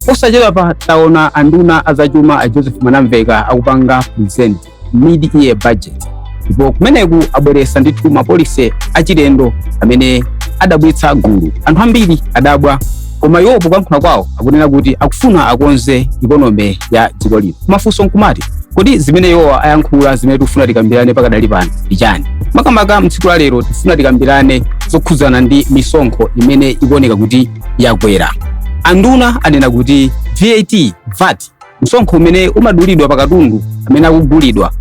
Posachedwapa taona anduna azachuma a Joseph Mwanamveka akupanga present mid-year budget ndipo kumeneku abweresa ndithu mapolisi achilendo amene adabwitsa gulu anthu ambiri adabwa koma iwo poyankhula kwawo akunena kuti akufuna akonze ikonomi ya dziko lino mafunso nkumati kodi zimene iwo ayankhula zimene tikufuna tikambirane pakadali pano ndi chani makamaka mtsiku la lero tifuna tikambirane zokhudzana ndi misonkho imene ikuoneka kuti yakwera anduna anena kuti vat vat msonkho umene umadulidwa pa katundu amene akugulidwa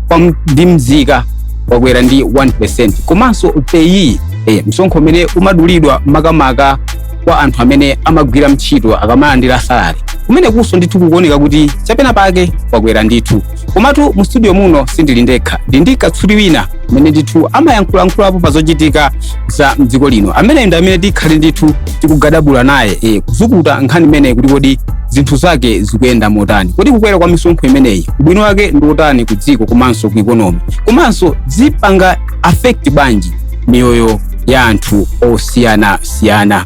kwa m- ndi mzika wakwera ndi 1 percent komanso peyi eh, msonkho umene umadulidwa makamaka kwa anthu amene amagwira ntchito akamalandira salari kumenekunso ndithu kukuoneka kuti chapena pake wakwera ndithu komatu mu studio muno sindili ndekha ndili ndi katswiri wina amene ndithu amayankhulayankhulapo pa zochitika za mdziko lino ameneyi ndi amene tikhale ndithu tikugadabula naye eh, kuzukuta nkhani imeneyi kuti kodi zinthu zake zikuyenda motani kodi kukwera kwa misonkho imeneyi ubwino wake ndi wotani ku dziko komanso ku ikonomi komanso zipanga affect bwanji miyoyo ya anthu osiyanasiyana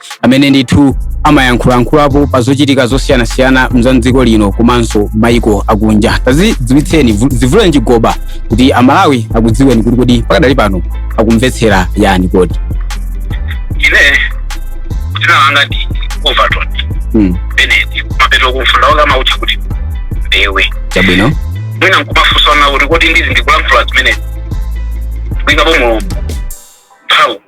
amene ndithu amayankhulayankhulapo pa zochitika zosiyanasiyana za mdziko lino komanso maiko akunja tazidziwitseni vu- zivuleni chigoba kuti amalawi akudziweni kuti kodi pakadali pano akumvetsera yani kodi ine dzina langa ndi overton mm. benedi mapeto kumfunda wake amautcha kuti mbewe chabwino mwina nkumafunsana kuti kodi ndizi ndikulankhula zimenezi kuikapo mulungu mphawu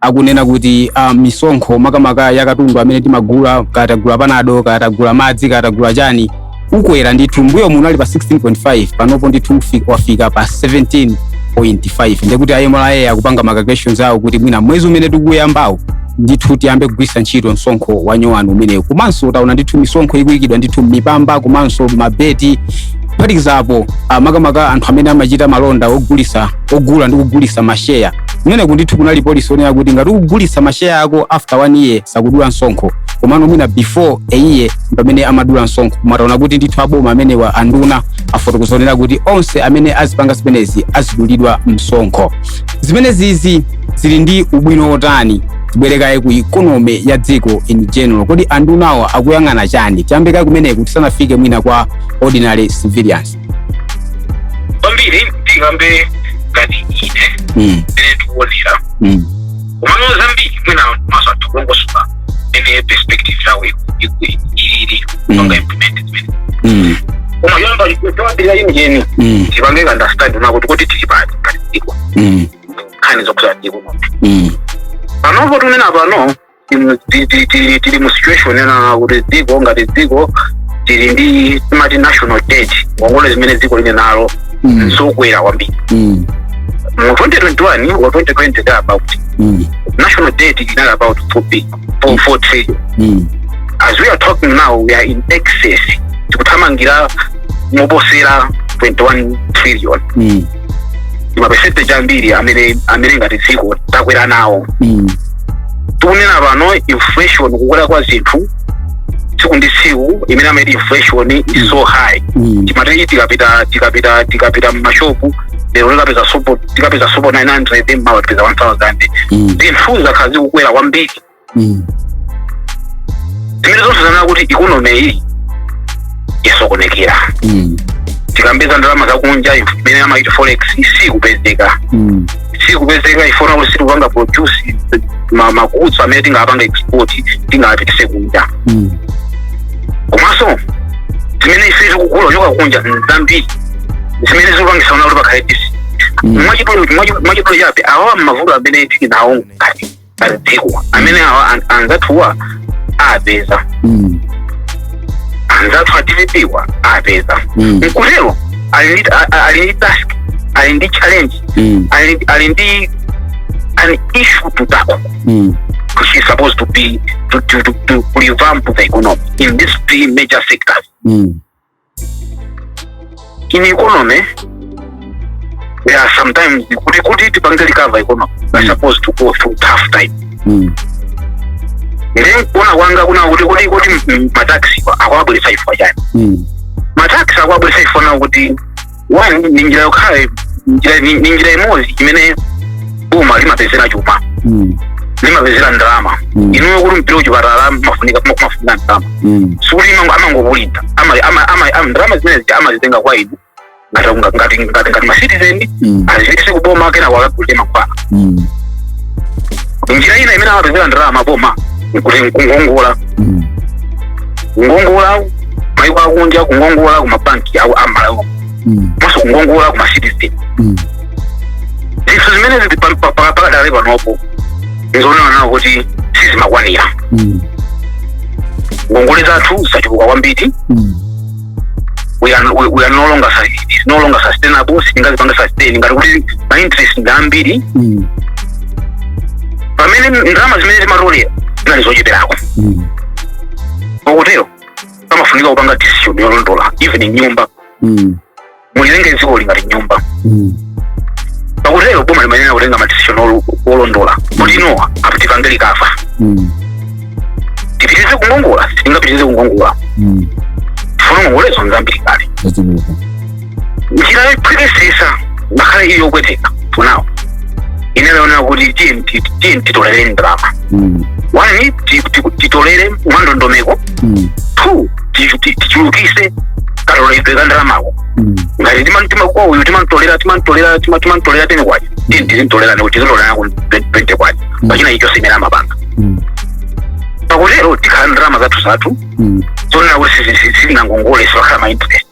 akunena kuti ah, misonkho makamaka ya katundu amene timagula kaya tagula panado kaya tagula madzi kaya tagula chani ukwera ndithu mbuyomu unali pa 16.5 panopo ndithu ufi- wafika pa 17.5 ndekuti a mra akupanga ma calculations awo kuti mwina mwezi umene tikuyambawo ndithu tiyambe kugwiritsa ntchito msonkho wa nyowani umenewu komanso taona ndithu misonkho ikuyikidwa ndithu m'mipamba komanso mabeti kuphatikizapo ah, makamaka anthu amene amachita malonda ogulisa ogula ndi kugulisa masheya kumeneku ndithu kunali polisi onena kuti ngati ukugulitsa masheya ako after one year sakudula msonkho komano mwina before a year pamene amadula msonkho koma taona kuti ndithu aboma amenewa anduna afotokozeranso kuti onse amene azipanga zimenezi azidulidwa msonkho zimenezizi zili ndi ubwino wotani tibwerekaye ku ikonomi ya dziko in general kodi andunawa akuyang'ana chani tiyambekaye kumeneko tisanafike mwina kwa ordinary civilians kwambiri tikambe ngati ine Mm. ine ndikuonera Mm. komano zambiri mwina maso athu kulongosoka ene perspective yawo ikuyenera kupanga implement zimene Mm. koma choyamba ikutawabira ine yeni Mm. tipange understand kunena kuti kuti tili pati ngati dziko Mm. nkhani zokuza dziko Mm. panopo tikunena pano timu- ti- ti- ti- tili mu situation yonena kuti dziko ngati dziko tili ndi timati national debt ngongole zimene dziko lili nazo Mm. nzokwera kwambiri Mm. mu 2021 or 2020 there about Mm. national debt inali about 4 big 4, 4 trillion Mm. as we are talking now we are in excess tikuthamangira moposera 21 trillion Mm. maperesenti ambiri amene amene ngati dziko takwera nawo Mm. tikunena pano inflation kukwera kwa zinthu tsiku ndi tsiku imene amati inflation is so high Mm. timati tikapita tikapita tikapita mmashopu lero tikapeza sopo tikapeza sopo 900 mmawa tikapeza 1000 Mm. zinthu zakhala zikukwera kwambiri mm. zimene zonse zanena kuti ikonomi iyi yasokonekera mm. tikamba za ndalama zakunja imene amati forex sikupezeka mm. sikupezeka chifukwa kuti sitikupanga produce ma goods amene tingapange export tingapitise kunja mm. komanso zimene ife tikugula kuchoka kunja nzambiri zimene zikupangisa kuti pakhale tisi mm. mwachidule chabe awawa mmavuto amene tili nawo ngati dziko amene awa an- anzathuwa apeza Mm. anzathu a dpp wa apeza Mm. nkutero ali ndi a- a- ali ndi task ali ndi challenge Mm. ali ali ndi an issue to tackle Mm. which is supposed to be to, to, to, to revamp the economy in these three major sectors Mm. in economy there are sometimes kuti kuti tipange recover economy we are supposed to go through tough time Mm. then kuona kwanga kuna kuti kuti kuti mm, mataxi akwabwelesa ifa chani Mm. mataxi akwabwelesa ifa na kuti one ndi njira yokhayo njira- ni ni njira imodzi imene boma limapezera chuma Mm. limapezera ndalama Mm. inuyo kuti mupite kuchipatala pamafunika pamafunika ndalama Mm. sikuti imango- amangobulidza Ama- ama- ama- ama- ndalama zimene amazitenga kwa inu ngati ngati ngati ngati ngati masitizeni Mm. azipitise kuboma kenako akagulire mankhwala Mm. njira ina imene amapezera ndalama boma ndi kungongola Mm. kungongola maiko akunja kungongola kumabanki awo amalawi Mm. komanso kungongola kumacitizen Mm. zinthu zimene zili pa- pa- pa- pakadali panopo nzoona kunena kuti sizimakwanira Mm. ngongole zathu zachuluka kwambiri Mm. we are, we, we are no longer sus- it is no longer sustainable sitingazipanga sustain kunena kuti ma interest ndi ambiri Mm. pamene ndalama zimene timatolera zinali zocheperako Mm. pakutero amafunika kupanga decision yolondola even nyumba Mm. mulitenge dziko lingati nyumba Mm. pakutero boma limayenera kutenga madecision olo- olondola kuti ino apa tipange recover Mm. tipitirize kungongola sitingapitirize kungongola Mm. chifukwa ngongolezo nzambiri kale Zachuluka. njira yophwekesesa ngakhale ili yopweteka ndi yonena kuti tiye nti- tiye titolere ndalama Mm. one ti- ti- titolere mwandondomeko Mm. two ti- ti- tichulukise katoledwe ka ndalamako Mm. ngati timantima kwa uyu timantolera timantolera tima- timantolera teni kwacha tiye tizintolera ndiko tizintolerako 20 kwacha pachina icho chimene amapanga Mm. pakutero tikhala ndi ndalama zathu zathu Mm. zonena kuti sitinangongole sipakhala ma interest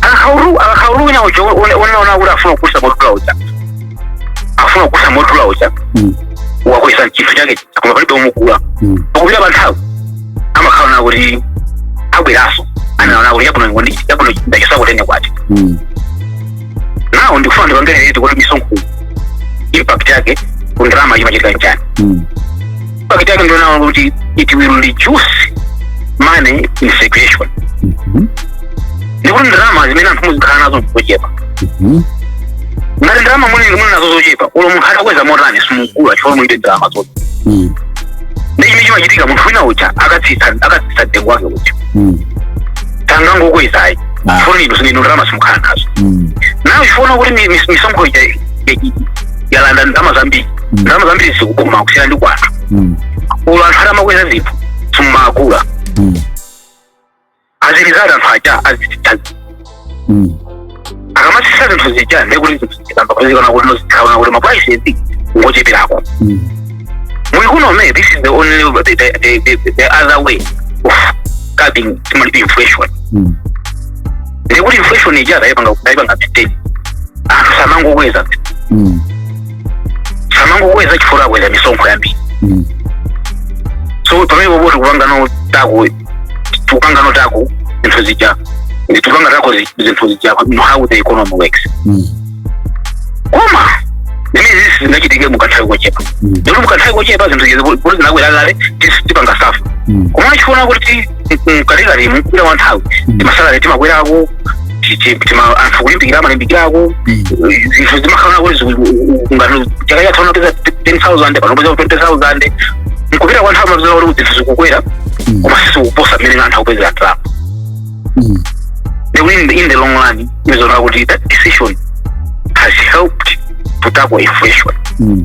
akhaulu akhaulu wina uja unaona kuti afuna kugulitsa modula uja afuna kugulitsa modula uja Mm. wakweza chinthu chake koma palibe omugula Mm. pakupita pa nthawi amakhala nkuti abweranso wonena kuti yabuno ngondi yabuno ndachosakutene kwati Mm. now ndikufuna ndipangene kuti misonkho impact yake ku ndalama imachitika bwanji Mm. impact yake ndi yonena kuti it will reduce money in circulation Mhm. ndekuti ndalama zimene anthu muzikhala nazo nzochepa Mhm. ngati ndalama muli muli nazo zochepa olo munthu atakweza motani simugula chifukwa mulibe ndalama zoti Mm. ndi chimene chimachitika munthu wina uja akatsitsa akatsitsa mtengo wake uja Mm. sangangokweza ayi Ah. chifukwa inu zimene ndalama simukhala nazo Mm. nazo chifukwa kuti mi- mi- misonkho ija ya- ya- yalanda ndalama zambiri ndalama zambiri zili ku boma kusiyana ndi kwa anthu Mm. olo anthu atamakweza zinthu simumagula Mm. as a result anthu aja azitsitsa Mm. akamatsitsa zinthu zija ndekuti zinthu zikayamba kutsika ndekuti zikhala zoti maprices ngocheperako Mm. mu economy this is the only the, the, the, the, the other way of curbing timalipi inflation Mm. ndekuti inflation ija tayipanga tayipanga maintain anthu samangokweza Mm. samangokweza chifukwa akweza misonkho yambiri Mm. so pamene popo tikupanga tackle tikupanga tackle zinthu zija tikupanga tackle zi- zinthu zija no how the economy works Mm. koma zimene zisi zingachitike mukanthawi kochepa Mm. ndekuti mukanthawi kochepa zinthu zija zoti zinakwera kale tis- tipanga suffer Mm. koma chifukwa kuti mkatikati mukupita kwa nthawi Mm. timasalary timakwerako ti- ti- tima- anthu kulimbikira amalimbikirako Mm. zinthu zimakhala kuti ngati chaka chatha unapeza 10000 pano upeza 20000 mkupita kwa nthawi mupeza kuti zinthu zikukwera Mm. koma sizikuposa mmene anthu akupezera ndalama Mm. the win in the long run tizaona kuti that decision has helped to tackle inflation Mm.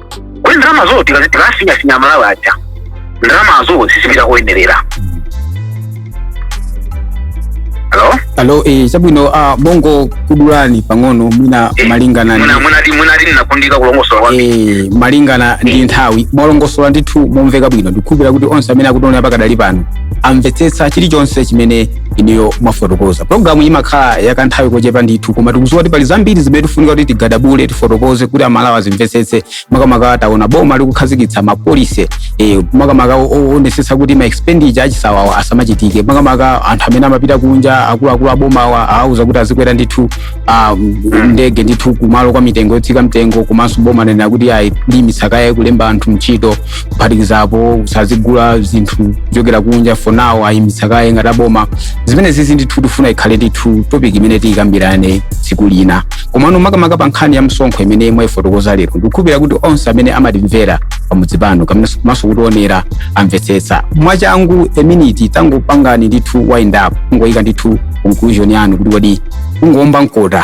kodi ndalamazo tikazi- tikasinyasinya amalawi aja ndalamazo zizipita koyenerera halo alo eh, chabwino ah, bongo kukudulani pang'ono mwina Eh, malingana ndi- Mwina- mwinati mwinati munakundika kulongosola kwambiri eh, malingana ndi nthawi mwalongosola ndithu momveka bwino ndikukhulupira kuti onse amene akutionera pakadali pano amvetsetsa chilichonse chimene inuyo mwafotokoza programu imakhala yakanthawi kochepa ndithu koma tikuziwa kuti pali zambiri zimene tifunika kuti tigadabule tifotokoze kuti amalawi azimvetsetse makamaka taona boma likukhazikitsa mapolisi eh, makamaka o- o- oonetsetsa kuti ma expenditure achisawawa asamachitike makamaka anthu amene amapita kunja akuluakulu aboma awauza kuti azikwera ndithu ah, ndege ndithu kumalo kwa mitengo yotsika mtengo komanso boma lanena kuti ayi liimitsa kaye kulemba anthu ntchito kuphatikiza apo kusazigula zinthu kuchokera kunja for now ayimitsa kaye ngati aboma zimene zizi ndithu tifuna ikhale ndithu topic imene tiyikambirane tsiku lina komano makamaka pa nkhani ya msonkho imene mwayifotokoza lero ndikukhulupirira kuti onse amene amatimvera pamudzi pano komanso kutionera amvetsetsa mwachangu a minute tangopangani ndithu wind up kungoyika ndithu conclusion yanu kuti kodi kungoomba mkota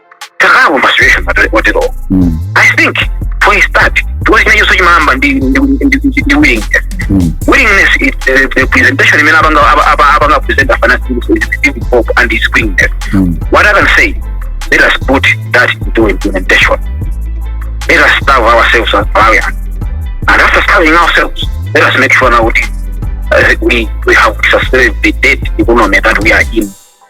takawo masituation oterowo Mm. i think for a start chikosi chimene chonse chimayamba ndi ndi- ndi- ndi- ndi willingness Mm. willingness is the, the presentation imene apanga apa- apa- apanga present afanasi giving hope and his willingness Mm. what i can say let us put that into implementation let us starve ourselves as malawian and after starving ourselves let us make sure now that uh, we, we have sustained the debt economy that we are in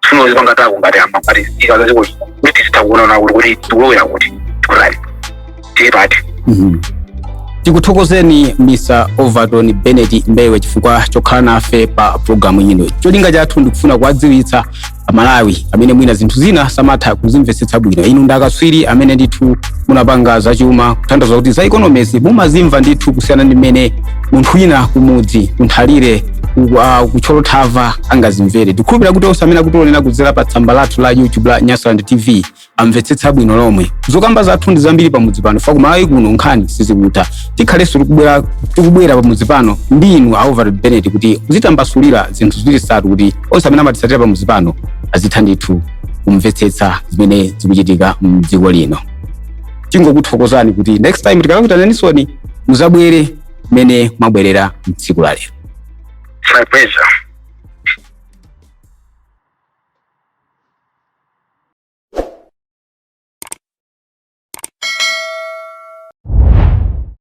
tsuno zipanga tako ngati ama ngati zika za ziko kuti zitakuona kuti kuti tikulowera kuti tikutali tili pati Mhm. tikuthokozeni mr overton benet mbewe chifukwa chokhala nafe pa programu ino cholinga chathu ndikufuna kuwadziwitsa amalawi amene mwina zinthu zina samatha kuzimvetsetsa bwino inu ndi akatswiri amene ndithu munapanga zachuma kutanthauza kuti za economics mumazimva ndithu kusiyana ndi mmene munthu wina kumudzi kunthalire uku- ah, kuthyolo thava angazimvere ndikhulupira kuti onse amene akutionera kudzera pa tsamba lathu la youtube la nyasaland tv amvetsetsa bwino lomwe zokamba zathu ndi zambiri pamudzi pano fa kumalawi kuno nkhani sizikutha tikhalenso tikubwera tikubwera pamudzi pano ndi inu a overton benet kuti muzitambasulira zinthu ziwiri zitatu kuti onse amene amatisatira pamudzi pano azitha ndithu kumvetsetsa zimene zikuchitika mdziko lino tingokuthokozani kuti next time tikakuitananinsoni muzabwere mmene mwabwerera mtsiku la lero My pleasure.